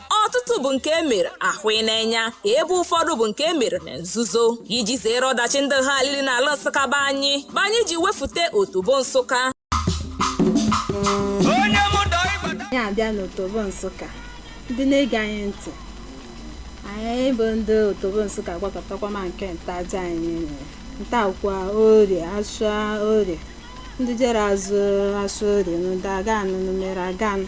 ọtụtụ bụ nke e mere ahụ ị na-enya ebe ụfọdụ bụ nke e mere na nzuzo iji zere ọdachi ndị ha alili n'ala nsụka be anyị bụ anyị ji wefute otobo nsụka anyị abịa n'otobo nsụka ndị na-ege anyị ntị anyị bụ ndị otobo nsụka gwakọtakwa ma nke ntaja anyị nwere ntakwa orie asụa orie ndị jere azụ asụa orie unu dị agaa nụ unu mere agaa nụ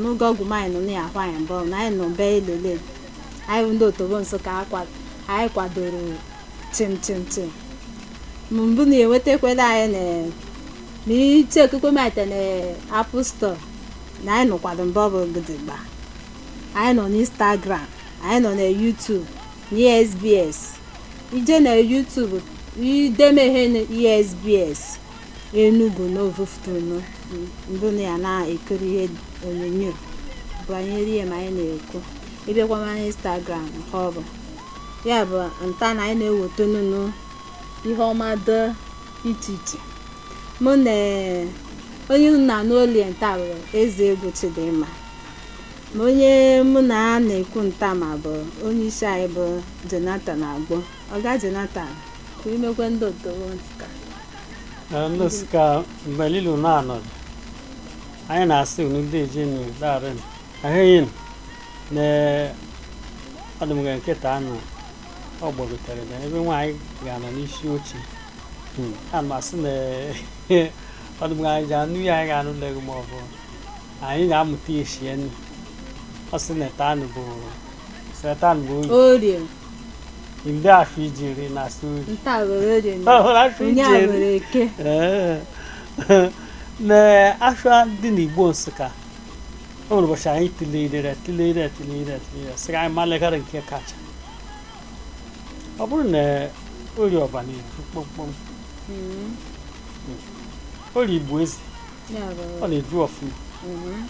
n'oge ọgwụ m anyị nọ na ya akwa anyị mbọ na anyị nọ be elele anyị bụ ndị otobo nsụka akwa anyị kwadoro chim chim chim Ma mbụ na enwetakwere anyị na na iche okukwe maite na apple store na anyị nọ kwado mbọ bụ gidigba anyị nọ n'instagram anyị nọ na youtube na esbs i je na youtube i deme ihe na esbs Enugu n'ụtụtụ nọ mbụ na ya na-ekiri ihe onyonyo banyere ihe ma anyị na-ekwu ị bịakwa na Instagram nke ọ bụ ya bụ nta na anyị na-ewetanụ unu ihe ọma dị iche iche mụnwa onye unu na-anụ olie nta bụ Ezeugwu Chidimma ma onye mụ na ya na-ekwu nta ma bụ onye isi anyị bụ Jonathan Agbo ọga Jonathan ka imekwe ndị otobo nta Eh, ndị nsụka mbelilu na anọdụ anyị na-asị unu deeje nụ daalụ ahịghị na ọdụmga nkịta anụ ọ gbagotere na ebe nwaanyị ga-anọ n'isi oche hmm. a ma sị na ọdụmga anyị ji anụ ya anyị ga-anụ lego ma ọ bụ anyị ga-amụta ya esi enu ọ sị na etanụ bụ etanụ bụ oyi ndị afọ ijiri na suri nta were orie na ọhụrụ afọ onye a ijiri were eke Ee. na asụa dị n'igbo nsụka o nwere ụbọchị anyị tụlere tụlere tụlere tụlere sị ka anyị malegara nke kacha ọ bụrụ na orie ọba na-ebu kpọmkpọm Mm, orie igbo eze ya ọ were na-eju ọfụma Mhm.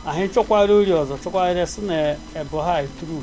anyị chọkwara orie ọzọ chọkwara sị na ebo ha eturu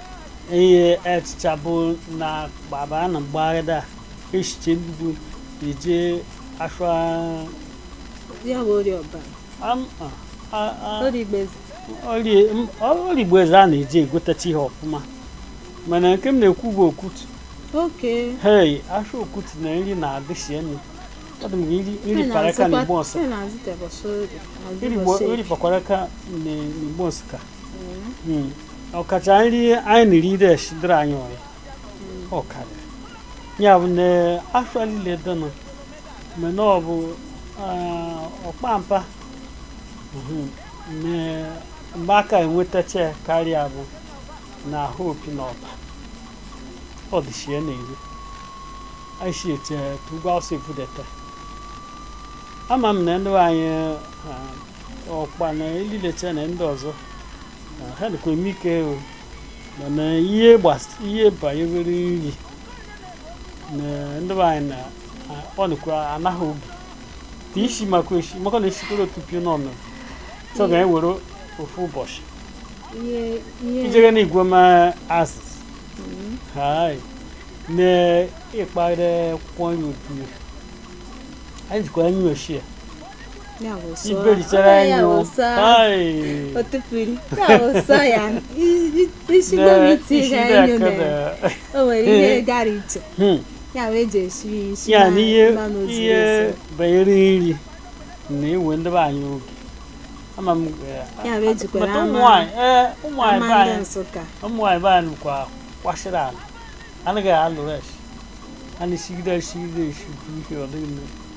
ihe echicha bụ na gbaba na mgbagharịda echiche bụ ije asụa ya bụ orie ọba orie igbo eze a na-eji egotacha ihe ọfụma mana nke m na-ekwu bụ okutu hei asụa okutu na nri na-adịsi enu Hadi mi iri iri paraka n'igbo nsụ. Iri bo iri pakoraka n'igbo nsụka. ọkacha nri anyị niri ire esidere anyị ọyị ọkara ya bụ na afọ niile dịnụ mgbe na ọ bụ ah, ọkpampa mhm, na- ebe a ka enwetacha ya karịa bụ na Eha Opi na Ọba ọ dịchi ya na-eri aisi ete tugwa ọsọ ebudeta ama m na ndị be anyị ah, ọkpa na ilileta na ndị ọzọ na ha dịkwa eme ike o mana ihe gbas- ihe banyere nri na ndị be anyị na a- ọ dịkwa anaghị obi dị isi maka esi maka na esikwere otu pio n'ọnụ chọ ga anyị were ofu ụbọchị ihe ihe ijere na igwe ma asịs hai na ịkpara kwanye otu anyị jikwa anyị ochie iberichere anyị o isi ya na ihe banyere nri na iwe ndị be anyị oge ama m bata ụmụnwaanyị ee ụmụnwaanyị be anyị ụmụnwaanyị be anyị kwa kwasịrị ala anaghị alụ rush a na-esigide esigide esi ihe ọ dịghị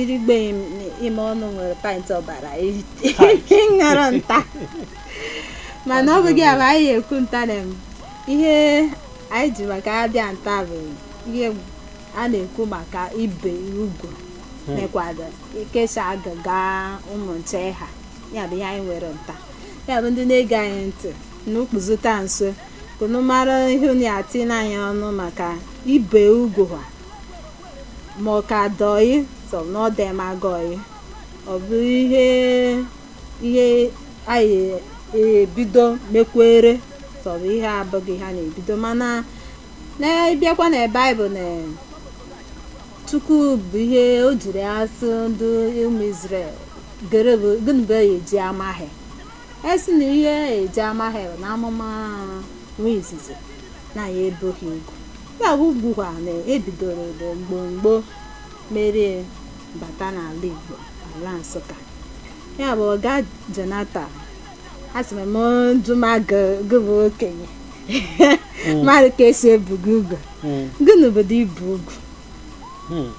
irigbeghị m ime ọnụ nwere pint ọbara ṅara nta mana ọ bụghị ama anyị ekwu nta na m ihe anyị ji maka ya bịa nta bụ ihe a na-ekwu maka ibe ugwu mekwado ka esi agaga ụmụ nche ha ya bụ ihe anyị nwere nta ya bụ ndị na-ege anyị ntị unu kpuzute nso ka unu mara ihe unu ya-etinye anyị ọnụ maka ibe ugwu ha ma ọ ka dị ọyị sọ bụ na ọ dịmagị ọyị ọ bụ ihe ihe anyị ebido mekwere sọ bụ ihe abụghị ihe a na-ebido mana a bịakwa na Baịbụl na Chukwu bụ ihe o jiri asị ndị ụmụ Izrel gịnị bụ ya eji ama ha si na ihe eji ama ha bụ na a mụma nwa izizi na ya ebu ha ugwu Ya bụkwa na ebidoro bụ mgbomgbo merie bata n'ala Igbo ala Nsụka ya bụ ọga Jonathan asị m m jụma gị gị bụ okenye mmadụ ka esi ebu gị ugwu Mm. gị n'obodo ibu ugwu Hmm.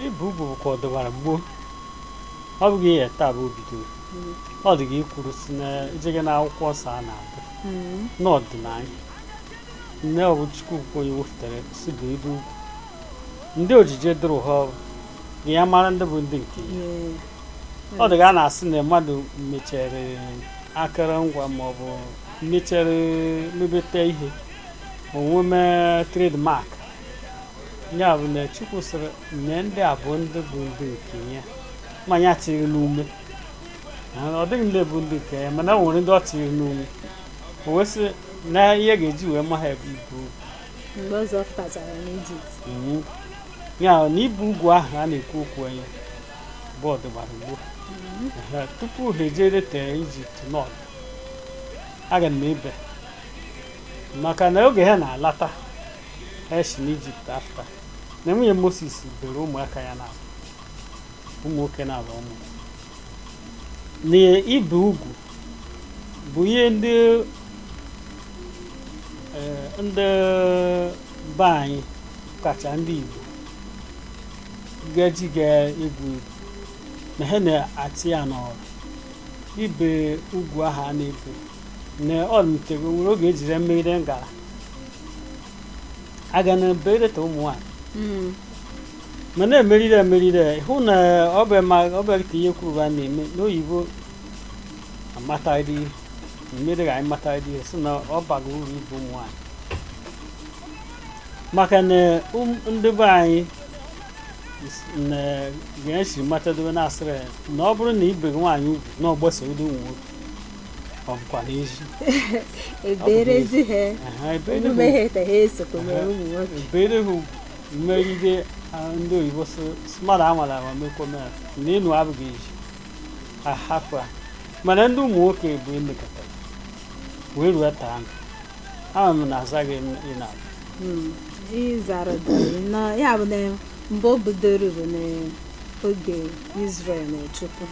Ibu ugwu bụ ka ọ dọbara gboo ọ bụghị ihe taa bụ obido ọ dị ga i kwuru sị na ejeghe na akwụkwọ nsọ mana a bịa n'ọdịnala nne ọbụ Chukwu bụ onye wepụtara si bụ ibe ugwu ndị o jiji dụrụ ha ọdụ ka ya mara ndị bụ ndị nke ya ọ dị ka a na-asị na mmadụ mechere akụrụngwa maọbụ mechere mebeta ihe o wee mee trademark ya bụ na Chukwu sịrị na ndị a bụ ndị bụ ndị nke ya ma ya tiri n'ume ndị niile bụ ndị nke ya mana o nwere ndị ọ tiri n'ume o wee sị na ihe ya ga-eji wee ma ha bụ ibe ugwu mgbe Izrel pụtachara n'ijipt Mhm. ya na ibe ugwu ahụ a na-ekwu okwu ya bụ ọ dịgbara gboo Ehe, tupu ha ejere tee ijipt nọt aga m ebe maka na oge ha na-alata ha si n'ijipt afụta na nwunye moses bere ụmụaka ya na ụmụ nwoke na-abụ ụmụ na ibe ugwu bụ ihe ndị eh, ndị be anyị kacha ndị Igbo ga-eji ga-egwu egwu na ha na-atị ya n'ọrụ ibe ugwu ahụ a na-ebe na ọ mụtego nwere oge ejiri mee gara aga na bereta ụmụ nwaanyị Mm. ma na-emerịrị emerịrị hụ na ọ bụ ma ọ bụ ka ihe kwuru ha na-eme n'oyibo amataghịdị ihe mere ka anyị mataghịdị ihe sị na ọ baghị uru ibe ụmụ nwaanyị maka na ụm- ndị be anyị s- na ga-esi matadobe na-asịrị ya na ọ bụrụ na ibeghị nwaanyị ugwu na ọ gbasoro ụdị ụmụ nwoke ọ bụkwa n'ezi eberezi ha Aha, ebe ndị omume bụ- ha ete ha esokwa mere Aha. ụmụ nwoke ebere ha ugwu mmegide ah, ndị oyibo sị mmadụ amara ama mekwa mere na ịnụ abụghị ezi a hafụ ya mana ndị ụmụ nwoke bụ emekọta wee ruo taa m ama m na azaghị m ị na Mm, ịzara dịrị na ya bụ na mgbe o bidoro bụ n'oge Izrel na Chukwu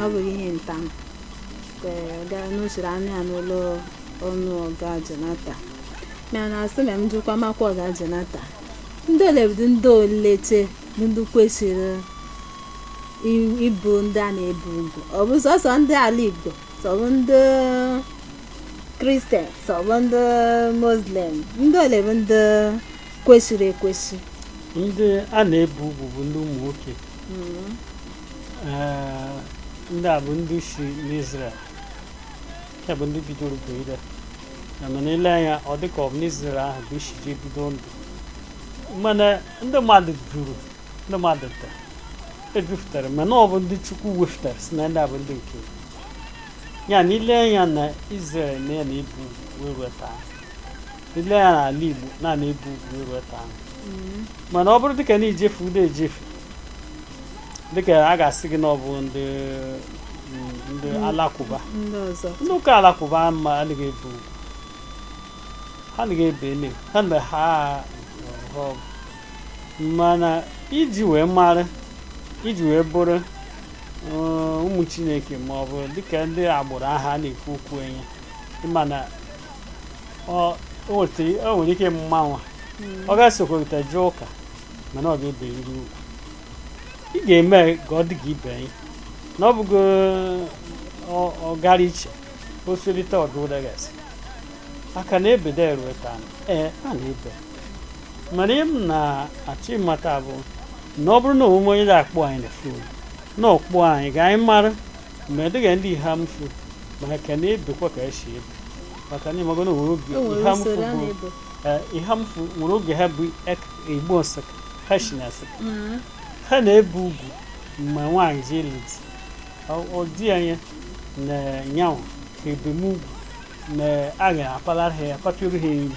ọ bụghị ihe taa m ka ọ gaa n'usoro anụ ya n'ụlọ ọnụ ọga Jonata mana asị na m jụkwa maka ọga Jonata ndị ole bụ ndị olee bụ ndị kwesịrị i- ibe ndị a na-ebe ugwu ọ bụ sọsọ ndị ala igbo sọbụ ndị kristian sọbụ ndị muslim ndị ole bụ ndị kwesịrị ekwesị ndị a na-ebe ugwu bụ ndị ụmụ nwoke Mm. Ee, ndị a bụ ndị si n'Izrel ya bụ ndị bidoro bụ ihe a mana i lee anya ọ dịka ọ bụ n'Izrel ahụ bụ isi ji bido ndụ mana ndị mmadụ juru ndị mmadụ tere ejupụtara mana ọ bụ ndị chukwu wefụtara sị na ndị a bụ ndị nke ya na ile anya na Israel na a na-ebe ugwu wee ruo taa ile anya na ala Igbo a na-ebe ugwu wee ruo taa mana ọ bụrụ dịka na ijefu udo ejefu dịka a ga-asị gị na ọ bụ ndị mm, ndị alakụba ndị ọzọ ndị ụka alakụba ma anaghị ebe ugwu ha anaghị ebe ene ha na ha ha mana iji wee mara iji wee bụrụ uh, ụmụ chineke ma ọ bụ dịka ndị agbụrụ aha na-ekwu okwu enye mana o nwere ike mmanwa hmm. ọ ga-esokorịta jụọ ụka mana ọ ga-eberịrị ugwu ị ga-eme ka ọ dị ka ibe anyị na ọ bụgo ọgara iche osolite ọdụ ụdagasị aka na-ebede erueta ee a na-ebe mana ihe m na-achọ ịmata bụ na ọ bụrụ na o nwee onye na-akpọ anyị na fon na ọ kpọọ anyị ka anyị mara ma ọ dị ka ndị Eha-Amufu ma a ka na-ebekwa ka e si ebe maka na ịmago na nwere oge Eha-Amufu bụ Eha-Amufu nwere oge ha bụ igbo Nsụka ha sị na Nsụka ha na-ebe ugwu mgbe nwaanyị ji ịlụ di ọ dị anya na yanwa ka ebe ugwu na a ga-apalara ha ya apatara ha nri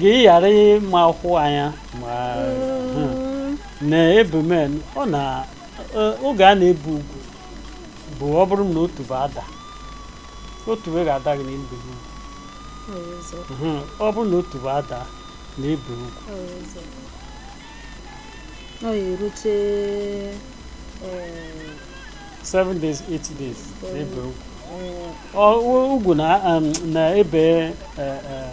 gị ghara ịma akwụkwọ anya ma hmm, na ebe m nọ na eh, oge a na-ebe ugwu bụ ọ bụrụ na otubo adaa otubo ga-ada gị na ibe ugwu Hmm, ọ bụrụ na otubo adaa na ibe ugwu ọ ya erute eh, 7 days 8 days na ibe ugwu eh, Ọ- ugwu na um, na ebe eh, eh,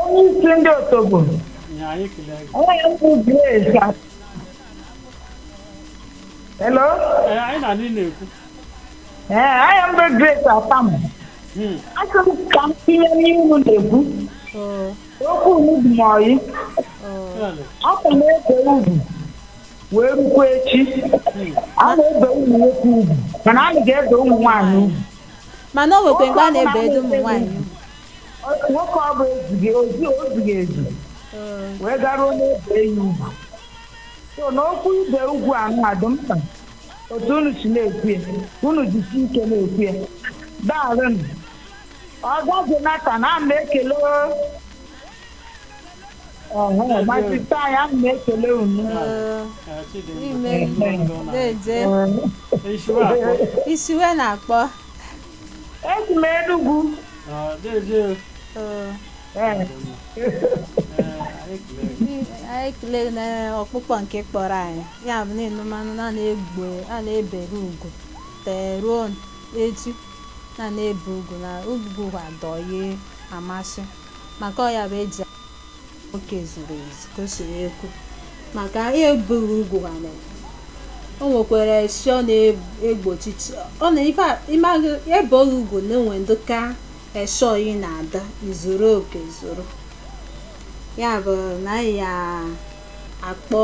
onye isi ndị otogbo Nne anyị ekelee gị. aha m bụ Grace a- hello Ee, anyị na ndị na-ekwu. ee aha m bụ Grace Atam Hmm. asị m ka m tinye n'ihe unu na-ekwu Oh, okwu unu dị m ọyị oh. Chineke. a ka na-ebe ugwu wee rukwa echi a na-ebe ụmụ nwoke ugwu mana anaghị ebe ụmụ nwaanyị ugwu mana o nwekwa mgbe a na-ebe edo ụmụ nwaanyị Ọ- nwoke ọ bụ ezughị ozi ozughị ezu wee garuo na e bee ya ugwu so n'okwu ibe ugwu a nwa dị mkpa otu unu si na-ekwu ya unu jisi ike na-ekwu ya daalụnụ ọga Jonathan ana m ekele ọhụụ masịta anyị ana m ekele unu Ime na-eje i si wee na-akpọ Esi m Enugu. Ah, deje. Ee, Ee, anyị kele. ndị- anyị kelee na ọkpụkpọ nke ị kpọrọ anyị ya bụ na mmanụ na na gboo a na-ebere ugwu tee ruo echi na a na-ebe ugwu na ugwu adọye amasị maka ọ ya bụ eji oke zuru ezu kwesịrị ekwu maka anyị ebeghị ugwu a o nwekwara esi ọ na-egbochi ọ na ife a- ịmaghị ebeghị ugwu na-enwe dị ka esi oyi na-ada izuru oke zuru ya bụ na anyị ya akpọ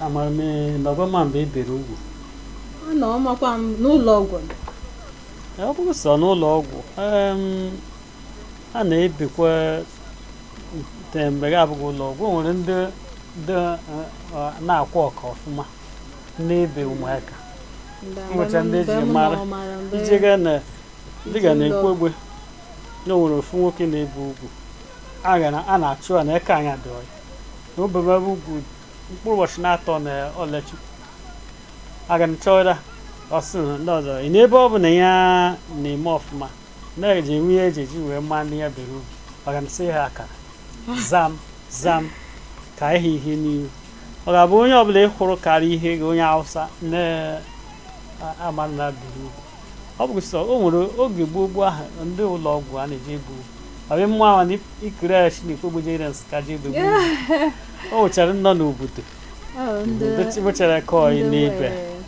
amamihe nọgọma mgbe e bere ugwu ọ na ọmakwa m n'ụlọ ọgwụ Ee, ọ bụghị sọ n'ụlọ ọgwụ em, a na-ebekwa te- mgbe gị abụghị ụlọ ọgwụ o nwere ndị ndị eh, eh, na-akwụ ọka ọfụma na-ebe ụmụaka O nwere ndị e ji mara. ị je gaa na dị ka na Ekwegbe na o nwere ofu nwoke na-ebe ugwu a ga na- a na-achọ ya na eke anya dị ọya na o bebe ugwu mkpụrụ ụbọchị naatọ na ọ lachie aga m chọra ọ sị na ndị ọzọ ị n'ebe ọ bụ na ya na-eme ọfụma na-eji enwe ihe e ji e ji wee maa ndị ya bere ugwu aga m sị ha akara zam zam ka ihe ihe n'ihu ọ ga-abụ onye ọ bụla ị hụrụ karịa ihe gị onye Awụsa na-amara na e bere ugwu ọ bụ sọ o nwere oge gboo gboo ahụ ndị ụlọ ọgwụ a na-eji egbu ọbịa mma ahụ na ikere ya chineke ogbojere nsị ka e ji ebe o nwechara nọ n'obodo Oh, ndị ndị tibuchara kọọ ndị n'ibe nwere-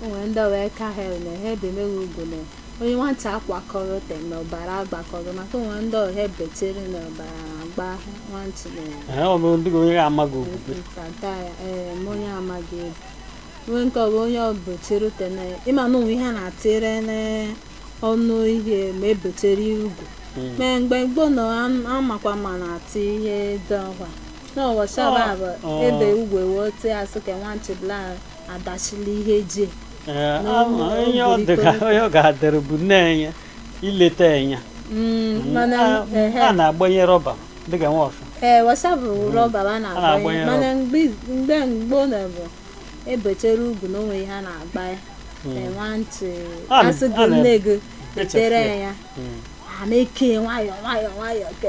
o nwere ndị wee ka ha na ha ebeme ugwu na onye nwata akwakọrọ te na ọbara agbakọrọ maka o nwe ndị ọ ha betere na ọbara agba nwantị na Ee, ọ bụ ndị onye amaghị okwukwe nkata ya ee ma onye amaghị ebe nwee nke ọ bụ onye o betere te na ịma na o nwe ihe a na-etere n'ọnụ ihe ma e betere ugwu Mm. ma mgbe gboo na amakwa ma a na-eti ihe dị ọkwa na washa bụ Ọ- bụ ọ. e bee ugwu e wee tee a sị ka nwa nchebla adachila ihe ji Ee, Na ama ụmụ onye ọ dị ka obodo onye ọ ga-adịrị bụ nne ya ileta ya anya Mm, mana A- ehe. a na-agbanye rọba dịka washa ee washa bụ rọba a na-agbanye na-agbanye mana mgbe mgbe gboo na ọ bụ e bechere ugwu na o nwe ihe a na-agba ya Ee, nwantị A na- asị gị a na- nne gị echefu etere ya. ya Mm. a na-eke nwayọọ nwayọọ nwayọọ ka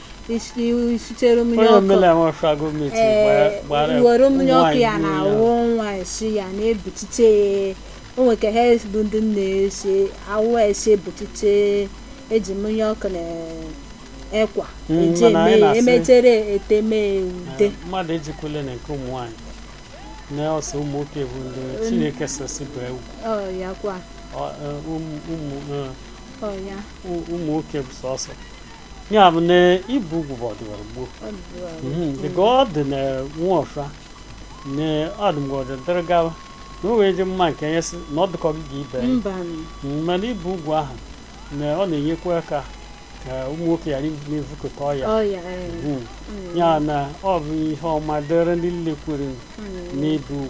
isitere mmiri ọkụ were mmiri ọkụ ya na awụ nwa esi ya na-ebutite o nwere ka ha bụ ndị na-esi awụ esi ebutite eji mmiri ọkụ na ekwa eji eme emetere eteme ude mmadụ ejikwele na nke ụmụ nwaanyị na ọ sọ ụmụ nwoke bụ ndị chineke sị sị be ugwu ọ ya kwa ụmụ ọ ya ụmụ nwoke bụ sọsọ ya bụ na ibe ugwu bụ ọdịwara gboo Mhm, dịka ọ dị na nwọfra na ọdụmgọdụ dịrị gawa na o wee dị mma nke onye sị na ọ dịkọ gị ga ibe ya. mba Mm, mana ibe ugwu ahụ na ọ na-enyekwa aka ka ụmụ nwoke ghara ịdị na-evukọta ọya ọya Mm. ya na ọ bụ ihe ọma dịrị ndị nlekwuru n'ibe ugwu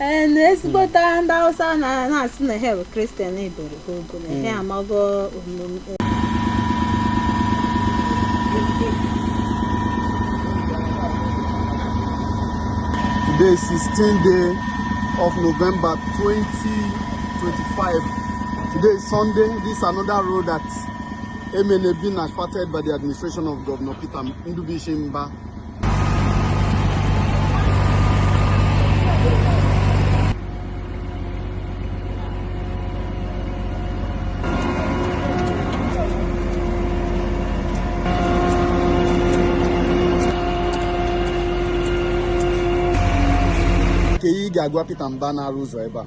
ee na ezigbote ndị Hausa na-asị na ha bụ kristian eboro ha ogo na ha amago omume Today is 16th day of November 2025. Today is Sunday. This is another road at Emene being asphalted by the administration of Governor Peter Ndubuisi Mbah kee ihe ị ga-agwa Peter Mbah na-arụ ụzọ ebe a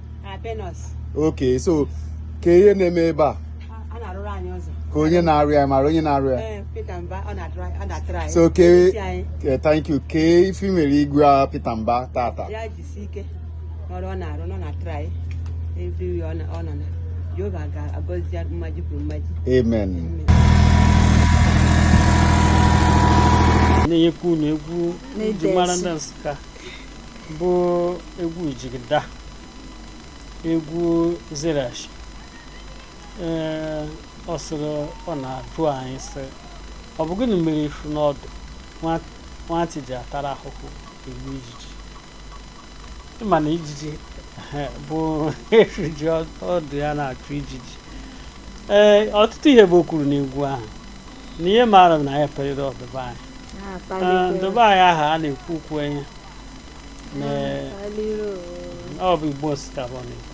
okay so kee ihe na-eme ebe a kee onye na-arụ ya ị maara onye na-arụ ya eh, so kee eh, thank you kee ife i nwere ịgwa Peter Mbah taata anyị na-enyekwa unu egwu e ji mara ndị Nsụka bụ egwu jigida egwu zerash ee ọ sịrị ọ na-ajụ anyị sị ọ bụ gịnị mere efi n'ọdụ nwa- nwatị ji atara ahụhụ egbu ijiji ị ma na ijiji ehe, bụ efi ji ọdụ ya na-achụ ijiji ee ọtụtụ ihe bụ o kwuru n'egwu ahụ na ihe maara m na ya perịrị ndị be anyị Ee, ndị be anyị aha a na-ekwu okwu ya na ọ bụ igbo nsụka bụ ọ na-ekwu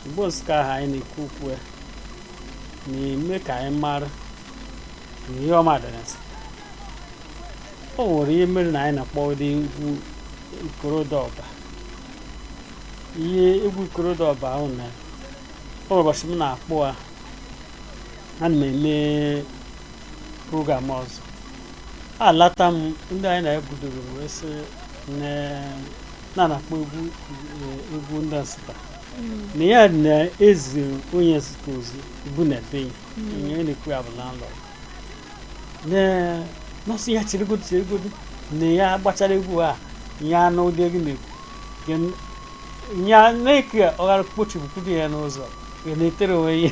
igbo nsụka aha anyị na-ekwu okwu ya na-eme ka anyị mara na ihe ọma dị na nsụka o nwere ihe mere na anyị na-akpọ ụdị egwu ikorodo Ọba ihe egwu ikorodo Ọba ahụ na o nwere ụbọchị m na-akpọ ha ana m eme program ọzọ alata m ndị anyị na-ebudoro m wee sị na- na na-akpọ egwu eh, egwu ndị nsụta na ya na-ezi onye nsụta ozi bụ na be ya onye a na-ekwu ya bụ landlord na nọsị ya cheregodu cheregodu na ya gbachara egwu a ya anụ ụdị egwu na-ekwu Ya n- ya na-eke ọghara kpochipụkwudo ya n'ụzọ ya na-etere onwe ya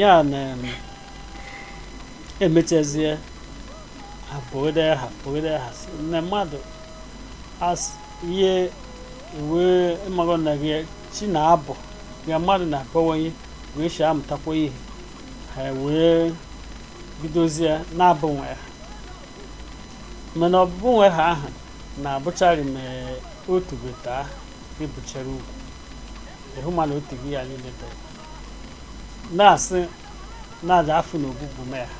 ya na emechazie ha pụgide ha pụgide ha si na mmadụ as ihe iwe ịmago na gị chi na-abọ mmadụ na-abawanye wee si amụtakwa ihe ha wee bidozie na-abụ nwa aha mana ọbụbụ nwa aha ahụ na-abụcharị ma otu beta ibechara ugwu ịhụ mana otu gị ya niile bere na-asị na aja afụ na ọbụbụ nwa aha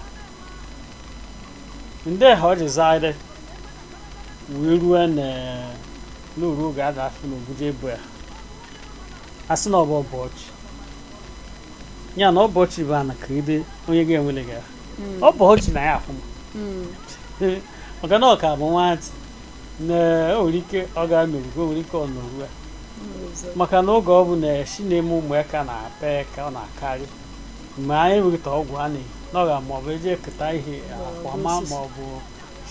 ndị ha ọ jizarị wee ruo n'oru oge aja afụ na ogbugbu ebu ya asị na ọ bụ ọbọchị ya na ọbọchị bụ ana ka ide onye ga-enwele gị ya ọbọchị na ya afụ maka na ọ ka bụ nwatị na o nwere ike ọ ga-anọru o nwere ike ọ nọru ya maka na oge ọ bụ na esi na-eme ụmụ ya ka na-apa ya ka ọ na-akarị mgbe anyị weta ọgwụ a na-eyi n'ọga ma ọ bụ eji eketa ihe akwa ma ma ọ bụ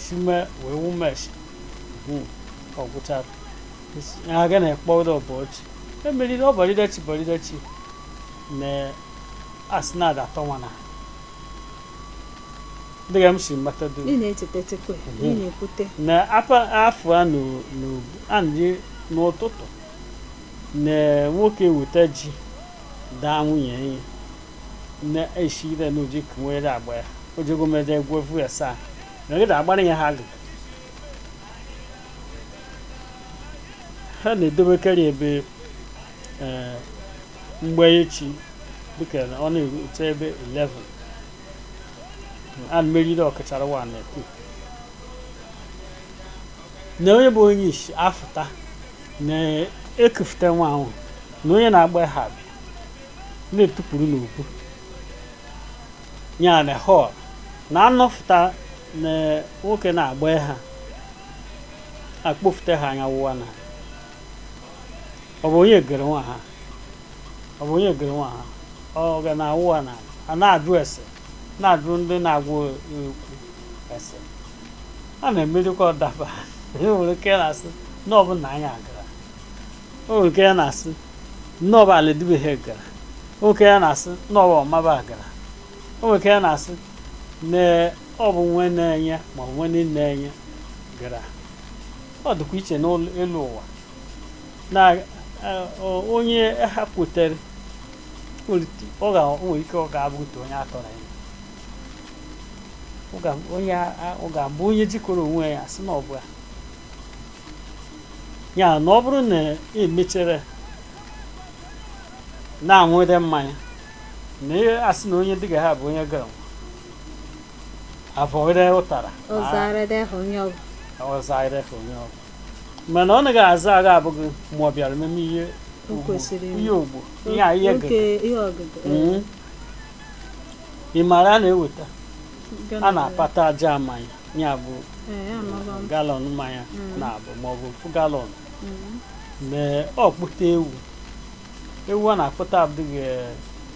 sime wee wumeshi ọgwụchara ya aga na-ekpọ ụdọ ụbọchị emeriri ọbọrịdachi bọrịdachi na asị na-adatọ nwa na dịka m si mata dum ị na-echetetekwe ị na-ekwute na apa afọ a n'o- n'o- a na-eji n'ụtụtụ na nwoke weta ji daa nwunye enyi na eshire na oji kunwere agba ya ojegomede gwevu ya saa na gị agbara ya aha agụ ha na-edobekarị ebe ee mgbe echi dịka na ọ na-erute ebe 11 a meriri ọkachara wa na ekwu na onye bụ onye isi afụta na-ekufute nwa ahụ na onye na-agba aha abịa na-etupụrụ n'okwu ya na họl na anọfụta na nwoke na-agba aha akpọfute aha onye ụwa na ọ bụ onye gere nwa ha ọ bụ onye gere nwa ha ọ ga na-awụ ha na a na-ajụ ese na-ajụ ndị na-agwụ ekwu ese a na-emerikwa ọdaba o nwere ike ya na-asị na ọ bụ nna anyị agara o nwere ike ya na-asị na ọ bụ ala dị be he gara o nwere ike ya na-asị na ọ bụ ọmaba gara o nwere ike ya na-asị na ọ bụ nwe na-enye ma ọ bụ nwe na-enye gara ọ dịkwa iche n'elu ụwa na onye ha kwetere o nwere ike ọ ga-abụ otu onye atọrọ ya ọ ga-abụ onye jikọrọ onwe ya sị na ọ bụ ya ya na ọ bụrụ na e mechere na-aṅụde mmanya na-asị na onye dịga ha bụ onye gara avọire ụtara ọzaire onye ọgwụ mana ọ naghị aza agha abụghị ma ọ bịara meme ihe ihe ogbo ihe ihe hmm. ị maara a na-eweta a na-apata jar mmanya ya bụ eh, galọn mmanya hmm. naabọ ma ọ bụ ofu galọn hmm. mee ọ kpụta ewu ewu a na-akpụta abụghị eh,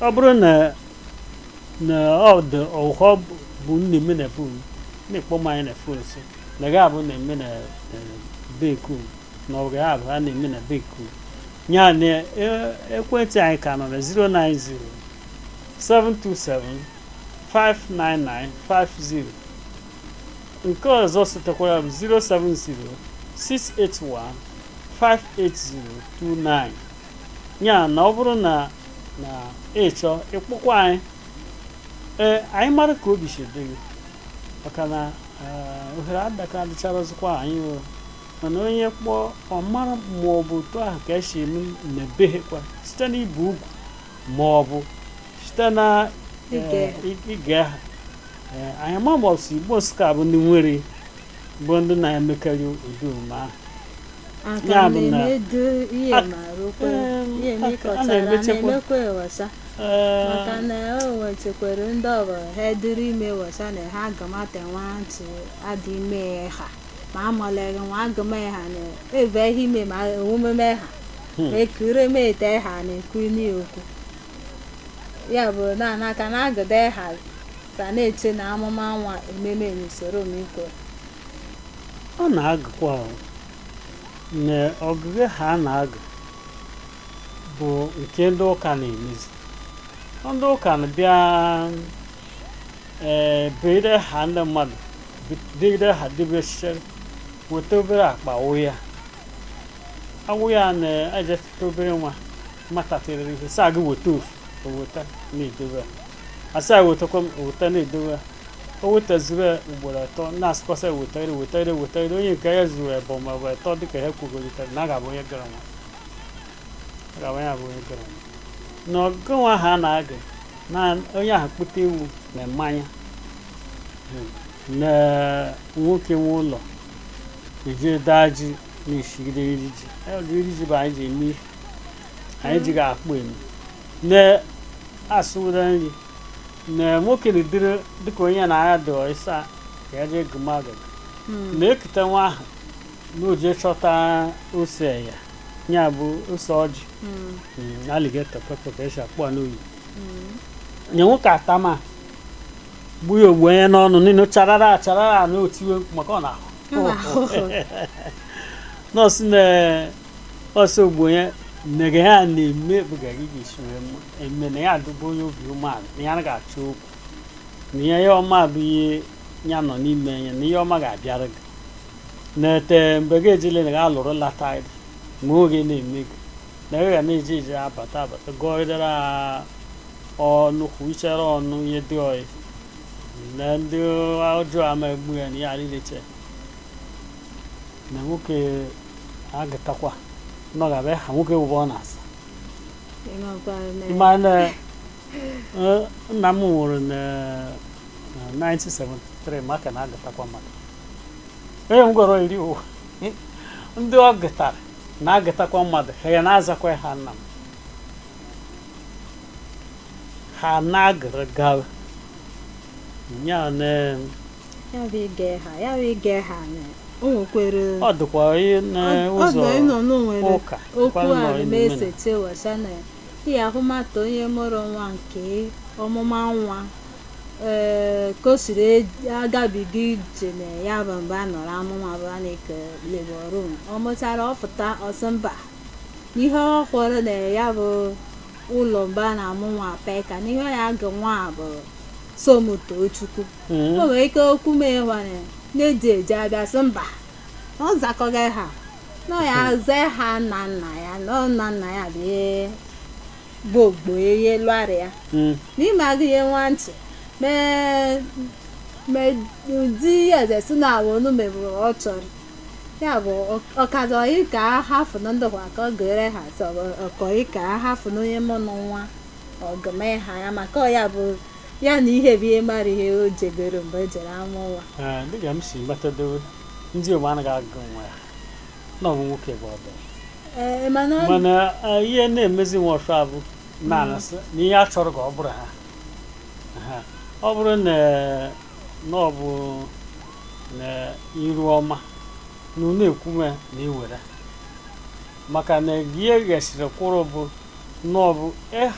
ọ bụrụ na na ọ dị ọhọ be unu na-eme na be unu na-ekpọ m anyị na fon sị na ga abụ na-eme na beku na ọ ga abụ a na-eme na beku ya na e- ekwentị anyị ka nọ na 090 727 59950 nke ọzọ sitekwara bụ 070 681 58029 ya na ọ bụrụ na na ị chọ ịkpọkwu anyị ee anyị mara ka obi si dị gị maka na eh, ohere adaka adịcharazikwa anyị o mana onye kpọọ ọ mara ma ọ bụ otu ahụ ka e si eme na be he kwa site n'ibu ugwu ma ọ bụ site na eh, Ige. i- ige ha Eh, anyị ma ma ọ bụ si Igbo Nsụka bụ ndị nwere bụ ndị na-emekarị ụdị omume ahụ Aka Ya m bụ na- na-emedo ihe Ak- ma rụkwa Em, ihe m ak- a ịkọtara na-emechekwa. na-emekwa ewesa Ee, maka na o nwetekwara ndị ọbụla ha eduru ime wesa na ha agamata nwa ntị adị ime ha ma amaleghị nwa agama ha na eve ihe ime ma omume ha Hmm. ekure m ete ha na-ekwu n'okwu ya bụ na anaka na agụda ha Ka na-eche na a mụọ nwa ememe n'usoro miko. A na-agụkwa aha na ọgụgụ aha a na-agụ bụ nke ndị ụka na-emezi ndị ụka na-abịa ee eh, dee aha ndị mmadụ degide ha debesichere weta obere akpa wụ ya awụ ya na-ejetụta obere nwa nwatakịrị a sị ya gị weta ofu o weta na-edobe a sị ya wetakwa m eweta na-edowe o wetazuru ya ugboro atọ na-asịkwasị wetagide wetagide wetagide onye nke ya zuru ebe ma ọ bụ atọ dịka ha kwugolitere na a ga-abụ onye gara nwa a ga-abụ onye abụ onye gara nwa na ọgụ nwa ahụ a na-agụ na onye ahụ kpụta ewu na mmanya na nwoke nwe ụlọ eji daa ji na-esigide iri ji iri ji bụ anyị ji eme ihe anyị ji ga-akpụ eme na asụwụda nri na nwoke na-edere dịka onye na ya dọọ ịsa ka ya jee gụma agụ na-ekute nwa ahụ na o jee chọta ose ya ya bụ ose ọjị Mm, alligator pepper ka esi akpọ ya n'oyibo nye nwoke atama gbu ya o gbunye n'ọnụ niile charara acharara na o tiwe mkpu maka ọ na-ahụ nọọsụ na ọsọ ugbo ya mere ya na-eme ebuga gị ga-esi wee mara eme na ya adụbụ onye obi umeala na ya anaghị achọ okwu na ya ihe ọma bụ ihe ya nọ n'ime ya na ihe ọma ga-abịara gị na-ete mgbe gị ejile na gị alụrụ lata gị ma oge na-eme gị na gị ga na-eji eji abata abata gụọdara ọnụ kwuchara ọnụ ihe dị oyi na ndị ọjọọ ama egbu ya na ya adịleche na nwoke agụtakwa na ọ ga-abụ aha nwoke wụba ọ na-aza ị ma na eh, nna m nwụrụ na na 1973 maka na agụtakwa mmadụ onye m gwara iri ụwa ndị ọ gụtara na-agụtakwa mmadụ aha ya na-azakwa aha nna m ha na-agụrụ gawa ya na ya bụ ịgụ aha ya bụ ịgụ aha na o nwekwere ọ dịkwa ihe ọ n'ụzọ bụ ịnọ n'onwere ụka okwu kwa nọ a n'ime na. na-esete wesa na ihe ahụmata onye mụrụ nwa nke ọmụmụ nwa ee ka o siri ej- agabiga ije na ya bụ mgbe a nọrọ amụ nwa bụ a na-eke labour room ọ mụtara ọ pụta ọ sị mba n'ihe ọ hụrụ na ya bụ ụlọ mgbe a na-amụ nwa maka n'ihe ya ga nwa a bụ Somtochukwu Mm. o nwere ike okwu m ịwanye na-eji eji abịa sị mba na ọ zakọghị aha na ọ ya-aza aha nna nna ya na ọ nna nna ya bụ ihe bụ ogbo ya lụara ya Mm. n'ime agụ ihe nwa ntị mee mee ụdị ihe eze si na awụ onu mebụrụ ọ chọrọ ya bụ ọkazọ ị ka a hafụ na ndị kwa ka ọ gụ aha sọ ọkọ ị ka a hafụ na onye mụ na nwa ọ gụma aha ya maka ọ ya bụ ya na ihe bụ ihe mara ihe o jebere mgbe e jere ama ụwa Ee, dịka m si matadowo ndị Igbo anaghị agụ nwa ya na ọ bụ nwoke bụ ọdọ ee mana ọ- mana eh, ihe na-emezi nwọsha bụ na a na-asị na ihe a chọrọ ka ọ bụrụ aha Ha. ọ bụrụ na na ọ bụ na Iruọma na unu ekwume na iwere maka na gị eghesịrị kwuru bụ na ọ bụ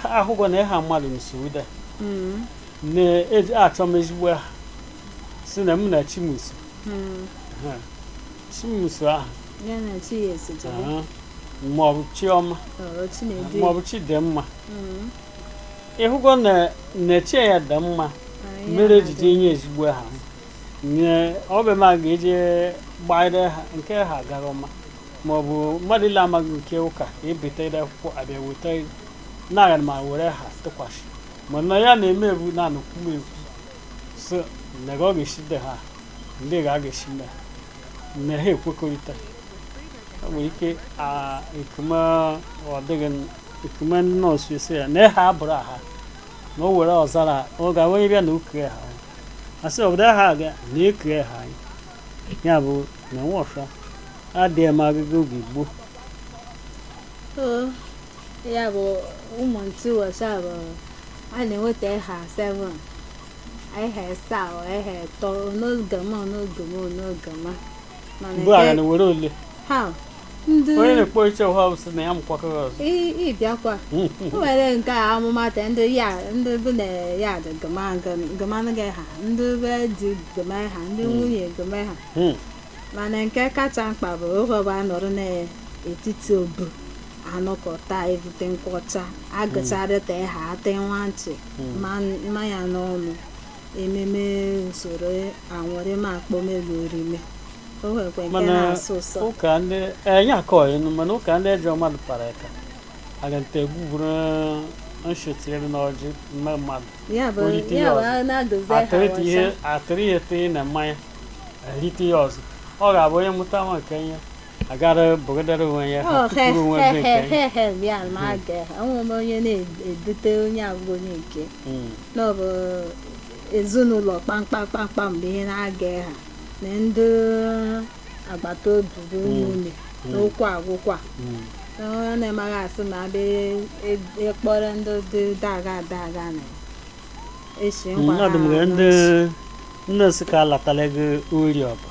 a hụgo na ịha mmadụ nsuda Mm, na-achọma ezigbo aha sị na mụ na chi m so mm. Ha. chimuso ahụ Ya na chi ya esote gị. aha. maọbụ chiọma Ọ, Chinedu ya. maọbụ chidimma Mm. ị hụgo na chi ya dị mma Ah, ya mere na-adị. ejije nye ezigbo aha m. nye ọbịa m a ga-eje gbaere ha nke ha gara ọma ma ọ bụ mmadụ ile amaghị nke ụka ebeta ide akwụkwọ abịa weta na-aga ma were ha tụkwasị mana ya na-eme bụ na anụkwu m ekwu so na ọ ga-esi de ha ndị ga a ga-esi mee na ha ekwekọrịta ọ nwere ike a- ekuma ọ dịghị n- ekuma ndị nọọsụ esi ya na ha abụrụ aha na o were ọzara ọ ga-enwe bịa na oke ha asị obodo ha aga na eke ha anyị ya bụ na nwọsha adịghị m agụgụ oge gboo So, ya bụ ụmụ ntị nwọsha bụ a na-enweta ịha 7 ịha ịsa ọ ịha ịtọ onye agụma onye agụma onye agụma mana mgbe agha na were ole ha ndị onye na-ekpo iche ụha bụ sị na ya mụkwakọrọ ọzọ ị- ịbịakwa o nwere ike a mụọ nwa ntị ndị ya ndị be nne ya dị gụmanụ gị aha ndị be di gụma aha ndị nwunye gụma aha Hmm. mana nke kacha mkpa bụ oge ọbụ a nọrọ n'etiti obu anọkọta evute nkwụ ọcha agụcharịta aha etee nwa ntị ma- mmanya n'ọnụ ememe usoro anwụrị ma akpọmelu orime o nwekwa nke Mana- na-asụ ụsọ ụka ndị enye akọ enu mana ụka ndị ejọ mmadụ kpara ka agante gbuburu nshi tiere n'ọjị nye mmadụ ya bụ o rite ya ya bụ ọzọ. a na-adozi ha atịrịta ihe ọcha atịrị ihe tie na mmanya erite ya ọzọ ọ ga-abụ onye mụta nwa nke ya agara bụgadara onwe ya ha pụrụ onwe ebe nke anyị. hehehehe bịa ma a ga-enwe m onye na-edute onye abụghị onye nke Mm. na ọ bụ ezinụlọ kpamkpamkpamkpam bụ ihe na-aga ha na ndị agbata obi bụ ụmụnne na ụka agwụkwa Mm. na onye na-emaghị asị ma abịa ịkpọrọ ndị dị daga daga na esi Mm, ọ dị m ka ndị ndị sị ka alatala gị ori ọba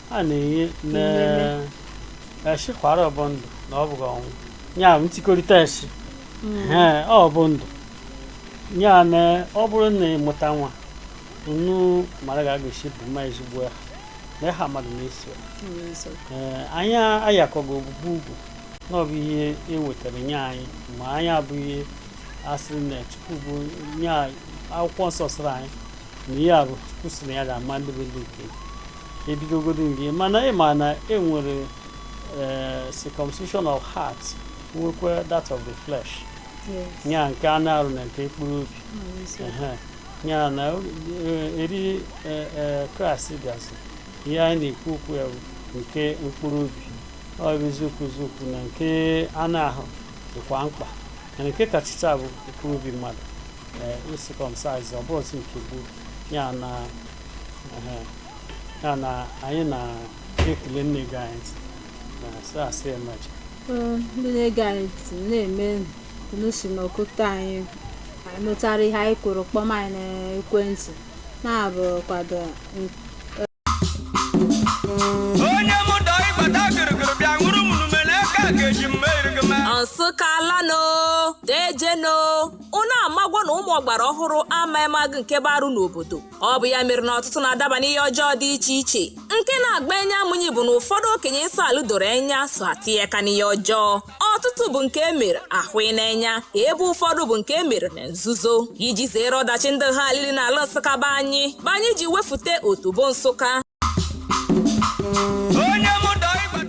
a na-enye Inene. na eshi kwara ọ bụ ndụ na ọ bụghị ọnwụ ya bụ ntikọrịta eshi Ee, ọ bụ ndụ ya na ọ bụrụ na ị mụta nwa unu mara ga ga-esi bụ mma ezigbo ya na ịha mmadụ na-eso ya. Ee, anyị ayakọghị obubu ugwu na ọ bụ ihe e wetara nye anyị ma anyị abụghị a sịrị na chukwu bụ nye anyị- akwụkwọ nsọ sịrị anyị na ihe a bụ chukwu sị na ya ga-ama ndị bụ ndị nke ya. ebidogodo gị mana ị ma na e nwere eh, circumcision of heart nwekwa that of the flesh ya nke anụ arụ na nke mkpụrụ obi Ehe. ya na eh, eri eh, eh, kraịst bịazi ihe anyị na-ekwu okwu ya bụ nke mkpụrụ obi ọ bụ eziokwu eziokwu na nke anụ ahụ dịkwa mkpa mana nke kachịcha bụ mkpụrụ obi mmadụ ee ị-circumcise ọ bụzi nke gboo ya na ya na anyị na-ekele ndị na-ege anyị ntị na asị asị emachi ndị na-ege anyị ntị na-eme unu si n'ọkụta anyị anyị mụtara ihe anyị kwuru kpọm anyị n'ekwentị na-abụ kwado onye mụ dọ ịgbata gịrịgịrị bịa ṅụrụ m numele aka ga-eji mma erigị ma Nsukka alanụ, dejenụ, ụnụ amagwọ na ụmụ ọgbara ọhụrụ ama emagụ nke bụ arụ n'obodo ọ bụ ya mere na ọtụtụ na-adaba n'ihe ọjọọ dị iche iche nke na-agba enya mụnyi bụ na ụfọdụ okenye nsọ alụ doro enya so atịye eka n'ihe ọjọọ ọtụtụ bụ nke e mere ahụ n'enya ebe ụfọdụ bụ nke e mere na nzuzo iji zere ọdachi ndị ha alili n'ala nsụka be anyị bụ anyị ji wefute otobo nsụka